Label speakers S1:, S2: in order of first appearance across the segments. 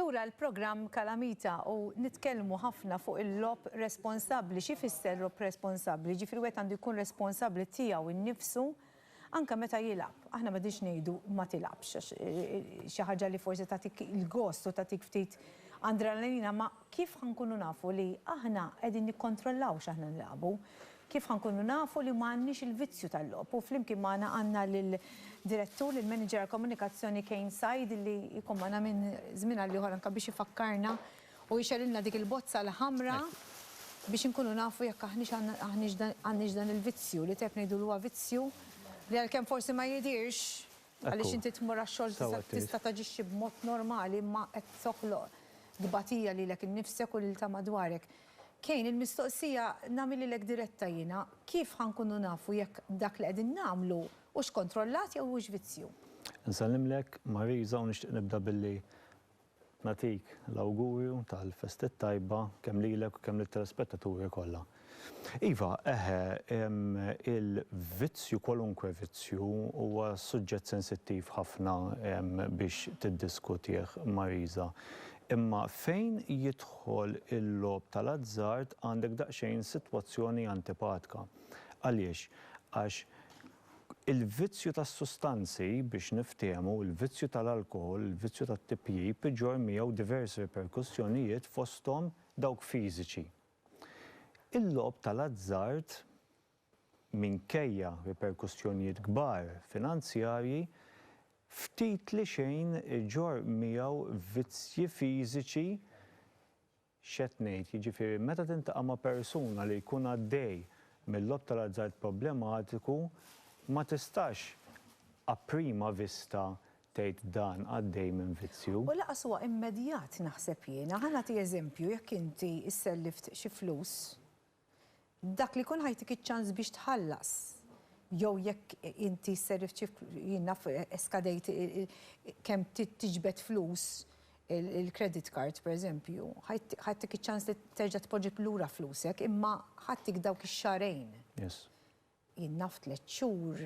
S1: Lura l-programm Kalamita u nitkellmu ħafna fuq il-lob responsabbli, xi fisser lob responsabbli, ġifri wieħed għandu jkun responsabbli tiegħu nnifsu Anke meta jilgħab, aħna m'qegħdinx ngħidu ma tilgħabx għax xi ħaġa li forsi tagħtik il-gost u tagħtik ftit andralanina, ma kif ħa nkunu nafu li aħna qegħdin nikkontrollaw x'aħna nilagħbu? Kif ħa nkunu nafu li ma għandniex il-vizzju tal-logħob? U flimkien magħna għandna lill-Direttur, lill-Manager għall-Komunikazzjoni Kane Said li jkun magħna minn żmien għal ieħor anke biex ifakkarna U jxegħlilna dik il-bozza l-ħamra biex inkunu nafu jekk aħniex għandniex dan il-vizzju, li tajjeb ngħidu li huwa vizzju, li għalkemm forsi ma jidhirx, għaliex inti tmur għax-xogħol tista' taġixxi b'mod normali imma qed toħloq tbatija lilek innifsek u lil ta' madwarek. Kane, il-mistoqsija nagħmel lilek diretta jiena, kif ħa nkunu nafu jekk dak li qegħdin nagħmlu hux kontrollat jew hux vizzju? Insellimlek,
S2: Marisa, u nixtieq nibda billi Nagħtik l-awgurju tal-festa t-tajba kemm lilek u kemm lit-telespettaturi kollha. Iva, eħe, il-vizzju, kwalunkwe vizzju, huwa suġġett sensittiv ħafna biex tiddiskutih, Marisa. Imma fejn jidħol il-logħob tal-azzard għandek daqsxejn sitwazzjoni antipatka. Għaliex? Għax Il-vizzju tas-sustanzi, biex niftiehmu, il-vizzju tal-alkoħol, il-vizzju tat-tipjip, iġorr miegħu diversi riperkussjonijiet fosthom dawk fiżiċi. Il-logħob tal-azzard, minkejja riperkussjonijiet kbar finanzjarji, ftit li xejn iġorr miegħu vizzji fiżiċi X'qed ngħid, jiġifieri meta tintaqa' ma' persuna li jkun għaddej mil-logħob tal-azzard problematiku, ma tistax a prima vista tgħid dan għaddej minn vizzju. U lanqas huwa immedjat
S1: naħseb jiena. Ħa nagħti eżempju, jekk inti sselliftt xi flus Dak li jkun ħa jtik iċ-ċans biex tħallas jew jekk inti sser irċiv jien naf skadejt kemm tiġbed flus il-credit card pereżempju, ħa jtik iċ-ċans li terġa' tpoġġi lura flusek imma ħa jtik dawk ix-xahrejn. Yes. Jien naf tliet xhur.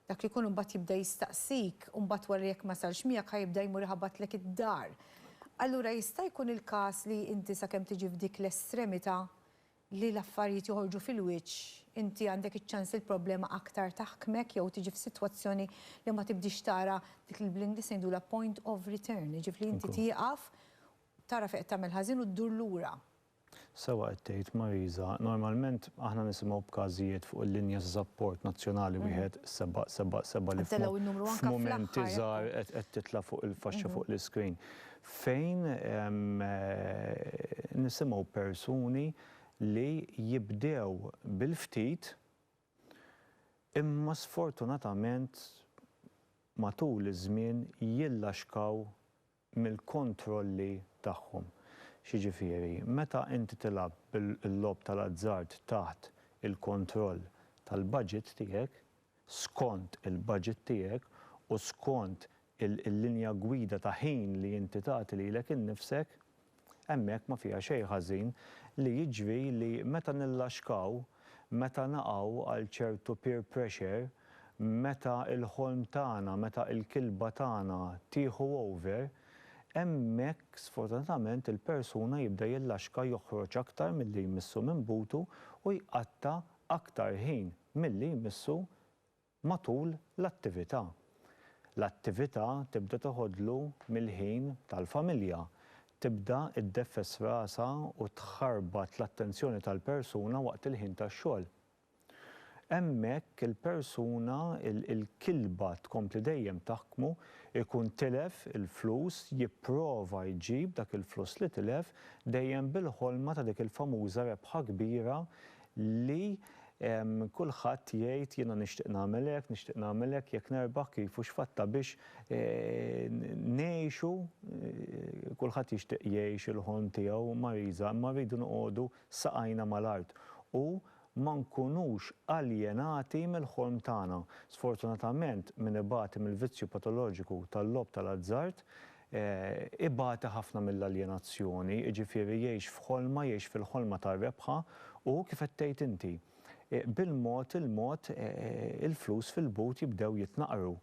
S1: Dak li jkun imbagħad jibda jistaqsik u mbagħad wara jekk ma sarx miegħek ħa jibda jmur iħabbatlek id-dar. Allura jista' jkun il-każ li inti sakemm tiġi f'dik l-estremità li l-affarijiet joħorġu fil-wiċċ, inti għandek iċ-ċans li l-problema aktar taħkmek jew tiġi f'sitwazzjoni li ma tibdiex tara dik li bl-Ingliż ngħidulha point of return, jiġifieri li inti tieqaf, tara fejn qed tagħmel ħażin u ddur lura. Sewwa qed
S2: tgħid Marisa, normalment aħna nisimgħu b'każijiet fuq il-linja ta' sapport nazzjonali wieħed seba' seba' seba' li f'mumenti żgħar qed titla' fuq il-faxxa fuq l-iscreen fejn nisimgħu persuni li jibdew bil-ftit imma sfortunatament matul iż-żmien jillaxkaw mill-kontrolli tagħhom. X'jiġifieri? Meta inti tilgħab bil-logħob tal-azzard taħt il-kontroll tal-budget tiegħek, skont il-budget tiegħek u skont il-linja gwida ta' ħin li inti tagħti lilek innifsek, Hemmhekk ma fiha xejn ħażin li jiġri li meta nillaxkaw, meta naqgħu għal ċertu peer pressure, meta l-ħolm tagħna, meta l-kilba tagħna tieħu over, hemmhekk sfortunatament il-persuna jibda jillaxka joħroġ aktar milli jmissu minn butu u jqatta' aktar ħin milli jmissu matul l-attività. L-attività tibda toħodlu mill-ħin tal-familja, tibda iddeffes rasha u tħarbat l-attenzjoni tal-persuna waqt il-ħin tax-xogħol. Hemmhekk il-persuna, il-kilba tkompli dejjem taħkmu, ikun tilef il-flus, jipprova jġib dak il-flus li tilef, dejjem bil-ħolma ta' dik il-famuża rebħa kbira li kulħadd jgħid jiena nixtieq nagħmel hekk, nixtieq nagħmel hekk, jekk nerbaħ kif u x'fatta biex ngħixu, kulħadd jixtieq jgħix il-ħolm tiegħu Marisa, imma rridu noqogħdu saqajna mal-art u ma nkunux aljenati mill-ħolm tagħna. Sfortunatament min ibati mill-vizzju patoloġiku tal-logħob tal-azzard Ibati ħafna mill-aljenazzjoni, jiġifieri jgħix f'ħolma, jgħix fil-ħolma tar-rebħa u, kif qed tgħid inti, bil-mod il-mod il-flus fil-but jibdew jitnaqqru.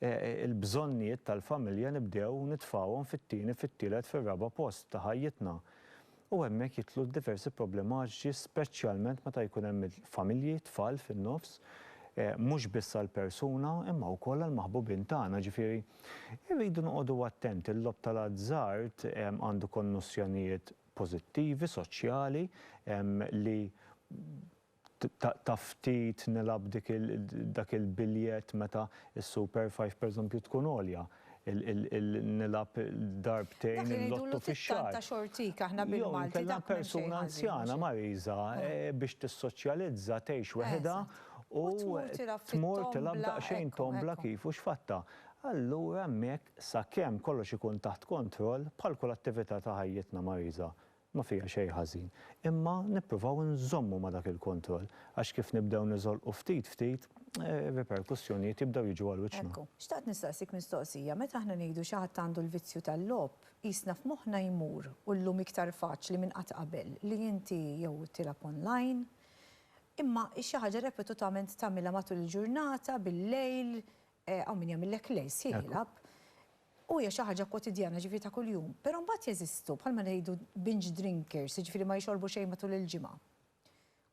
S2: Il-bżonnijiet tal-familja nibdew nitfgħuhom fit-tieni, fit-tielet, fir-raba' post ta' ħajjitna. u hemmhekk jidħlu d-diversi problematiċi speċjalment meta jkun hemm il-familji, tfal fin-nofs, mhux biss għall-persuna imma wkoll għall-maħbubin tagħna, ġifieri rridu noqogħdu attenti, l-logħob tal-azzard għandu konnossjonijiet pożittivi, soċjali, li Ta' ftit nilgħab dak il-biljett meta s-super five pereżempju tkun għolja, nilgħab darbtejn il-lotto fix-xahar.
S1: Jew inkella persuna
S2: anzjana mariża biex tissoċjalizza tgħix weħidha u tmur tilgħab daqsxejn tombla kif u x'fattha. Allura hemmhekk sakemm kollox ikun taħt kontroll bħal kull attività ta' ħajjitna mariża, Ma fiha xejn ħażin. Imma nippruvaw inżommu ma' dak il-kontroll, għax kif nibdew niżolqu ftit ftit, ir-riperkussjonijiet jibdew jiġu għal wiċċna. Ekku, xtaqt nistaqsik
S1: mistoqsija, meta aħna ngħidu xi ħadd għandu l-vizzju tal-logħob, qisna f'moħħna jmur, u llum iktar faċli minn qatt qabel, li inti jew tilgħab online, imma hi xi ħaġa repetutament tagħmilha matul il-ġurnata, bil-lejl, hawn min jagħmillek lejl sħiħ jilgħab, u hija xi ħaġa kwotidjana, jiġifieri ta' kuljum. Però mbagħad jeżistu, bħalma ngħidu binge drinkers, jiġifieri ma jixorbu xejn matul il-ġimgħa.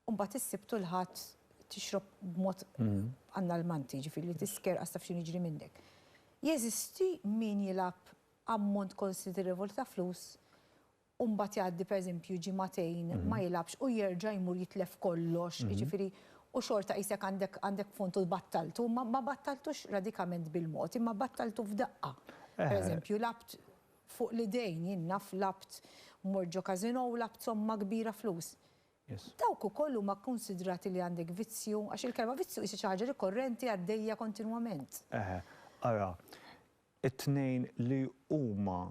S1: U mbagħad is-Sibt u l-Ħadd tixrob b'mod annalmanti, jiġifieri li tisker qas taf x'inhu jiġri minnek. Jeżisti min jilgħab ammont konsiderevoli ta' flus u mbagħad jgħaddi pereżempju ġimagħtejn ma jilgħabx u jerġa' jmur jitlef kollox, jiġifieri u xorta qisek għandek għandek punt u battaltu, ma ma battaltux radikament bil-mod imma battaltu f'daqqa. Pereżempju lgħabt fuq l-idejn, jien naf lgħabt mort ġo casino u lgħabt somma kbira flus. Dawk ukoll huma kkunsidrati li għandek vizzju? Għax il-kelma vizzju qisha xi ħaġa rikorrenti għaddejja kontinwament. Eħe, ara,
S2: it-tnejn li huma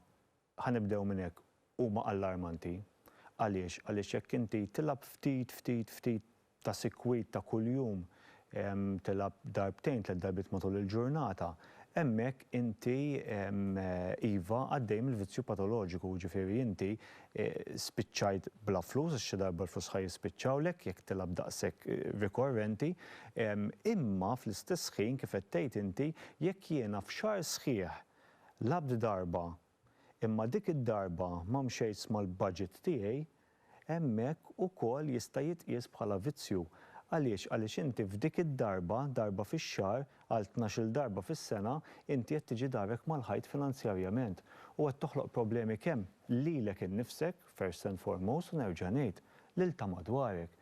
S2: Ħa nibdew minn hekk, huma allarmanti. Għaliex? Għaliex jekk inti tilgħab ftit, ftit, ftit ta' sikwit ta' kuljum, tilgħab darbtejn, tliet darbiet matul il-ġurnata, hemmhekk inti, iva, għaddej mill-vizzju patoloġiku, jiġifieri inti spiċċajt bla flus, għax xi darba l-flus ħa jispiċċawlek jekk tilgħab daqshekk rikorrenti. Imma fl-istess ħin, kif qed tgħid inti, jekk jiena f'xahar sħiħ Labt darba, imma dik id-darba ma mxejtx mal-budget tiegħi, hemmhekk ukoll jista' jitqies bħala vizzju. Għaliex? Għaliex inti f'dik id-darba, darba fix-xahar, għal tnax-il darba fis-sena, inti qed tiġi darek mal-ħajt finanzjarjament u qed toħloq problemi kemm lilek innifsek, first and foremost, u nerġa' ngħid, lil ta' madwarek.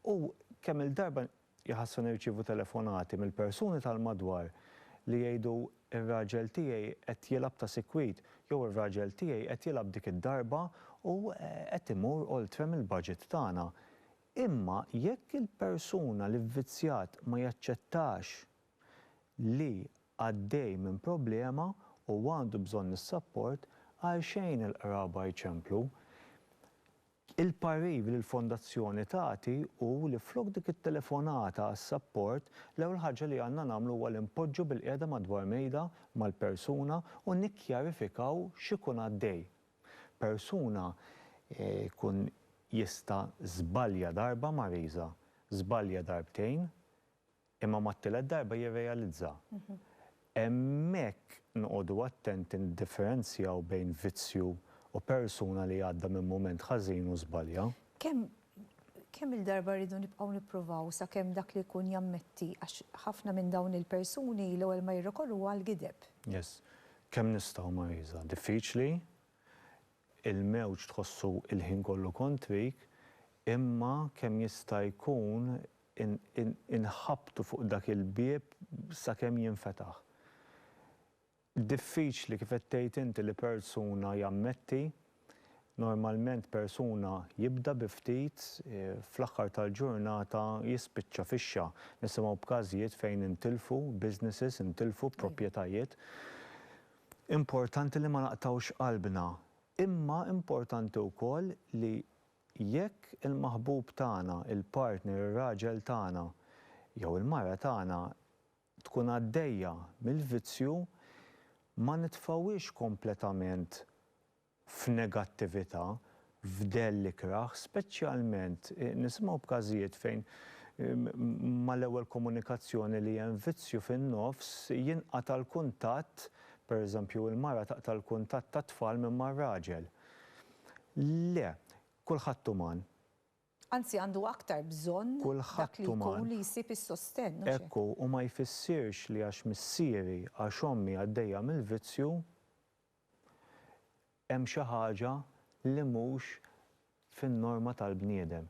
S2: U kemm-il darba Iħassu nirċievu telefonati mill-persuni tal-madwar li jgħidu r-raġel tiegħi qed jilgħab ta' sikwit jew ir-raġel tiegħi qed jilgħab dik id-darba u qed imur oltre mill-budget tagħna. Imma jekk il-persuna li vvizzjat ma jaċċettax li għaddej minn problema u għandu bżonn is-sapport, għalxejn il-qraba jċemplu. Il-parir li l-Fondazzjoni tagħti hu li flok dik it-telefonata għas-sapport, l-ewwel ħaġa li għandna nagħmlu huwa li npoġġu bilqiegħda madwar mejda mal-persuna u nikkjarifikaw x'ikun għaddej. Persuna jkun jista' żbalja darba Mariża, żbalja darbtejn, Imma mat-tielet darba jirrealizza. Hemmhekk noqogħdu attenti niddifferenzjaw bejn vizzju u persuna li għadda minn mument ħażin u żbalja. Kemm
S1: kemm-il darba rridu nibqgħu nippruvaw sakemm dak li jkun jammetti għax ħafna minn dawn il-persuni l-ewwel ma jirrekorru huwa għall-gideb. Yes.
S2: Kemm nistgħu Marisa? Diffiċli, il-mewġ tħossu il-ħin kollu kontrik, imma kemm jista' jkun inħabbtu fuq dak il-bieb sakemm jinfetaħ. Diffiċli kif qed tgħid inti li persuna jammetti, normalment persuna jibda bi ftit fl-aħħar tal-ġurnata jispiċċa fixxa. Nisimgħu b'każijiet fejn intilfu businesses, intilfu proprjetajiet. Importanti li ma naqtgħux qalbna, imma importanti wkoll li Jekk il-maħbub tagħna, il-partner, ir-raġel tagħna, jew il-mara tagħna tkun għaddejja mill-vizzju, ma nitfgħuhiex kompletament f'negattività, f'dell ikrah, speċjalment nisimgħu b'każijiet fejn mal-ewwel komunikazzjoni li hemm vizzju fin-nofs jinqata' l-kuntatt, pereżempju il-mara taqta' l-kuntatt tat-tfal minn mar-raġel. Le, kulħadd uman. Anzi għandu
S1: aktar bżonn dak li jkun li jsib is-sostenn, mhux hekk? Kulħadd uman. Ekku, u ma
S2: jfissirx li għax missieri, għax ommi għaddejja mill-vizzju, hemm xi ħaġa li mhux fin-norma tal-bniedem.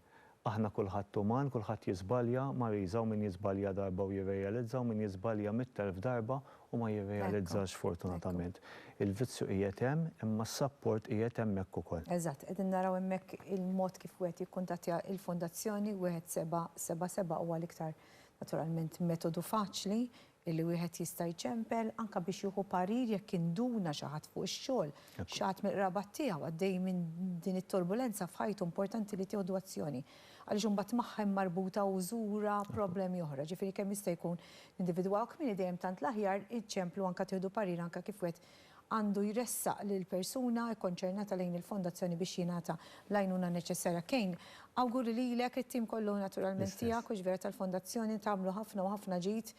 S2: Aħna kulħadd uman, kulħadd jiżbalja, Marisa, u min jiżbalja darba u jirrealizza u min jiżbalja mitt elf darba u ma jirrealizzax fortunatament. Il-vizzju qiegħed hemm imma s-sapport qiegħed hemmhekk ukoll. Eżatt, qegħdin naraw hemmhekk
S1: il-mod kif wieħed jikkuntattja l-Fondazzjoni, wieħed seba' seba' seba' huwa l-iktar naturalment metodu faċli, Illi wieħed jista' jċempel anke biex jieħu parir jekk induna xi ħadd fuq ix-xogħol, xi ħadd mill-qraba tiegħu għaddej minn din it-turbulenza f'ħajtu importanti li tieħdu azzjoni. Għaliex imbagħad magħha hemm marbuta użura, problemi oħra. Ġifieri kemm jista' jkun nindividwawh kmieni dejjem tant l-aħjar iċċemplu anke tieħdu parir anke kif wieħed għandu jressaq lill-persuna kkonċernata lejn il-Fondazzjoni biex jingħata l-għajnuna neċessarja. Kane, awguri lilek, it-tim kollu naturalment tiegħek u ġvera tal-Fondazzjoni, tagħmlu ħafna u ħafna ġid.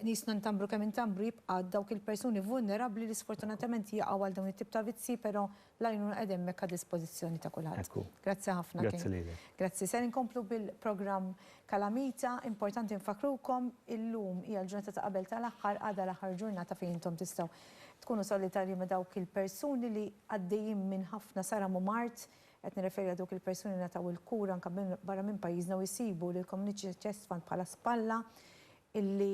S1: Nies ntambru kemm intambru jibqa' dawk il-persuni vulnerabbli li sfortunatament jaqgħu għal dawn it-tip ta' vizzji, però L-għajnuna qiegħda hemmhekk għad-dispożizzjoni ta' kulħadd. Grazzi ħafna King. Grazzi lilek. Grazzi.
S2: Ser inkomplu
S1: bil-programm Kalamita. Importanti nfakkrukom, illum hija l-ġurnata ta' qabel tal-aħħar, għada l-aħħar ġurnata fejn intom tistgħu tkunu solidarji ma' dawk il-persuni li għaddejjin minn ħafna saram u mard, qed nirreferi għal dawk il-persuni li ngħataw il-kura anke minn barra minn pajjiżna u jsibu lill-Community Chest Fund bħala spalla illi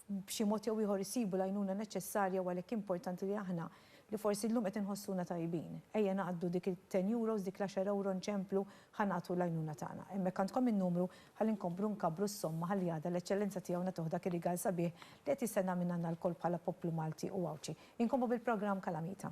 S1: b'xi mod jew ieħor isibu l-għajnuna neċessarja u għalhekk importanti li aħna, li forsi llum qed inħossuna tajbin, ejja naqdu dik it-ten euros, dik l-għaxar ewro nċemplu ħa nagħtu l-għajnuna tagħna. Hemmhekk għandkom in-numru ħalli nkomplu nkabbru s-somma ħalli għada l-Eċċellenza Tiegħu nagħtuh dak ir-rigal sabiħ li qed jistenna minn għandna lkoll bħala poplu Malti u Għawdxi. Inkomplu bil-programm Kalamita.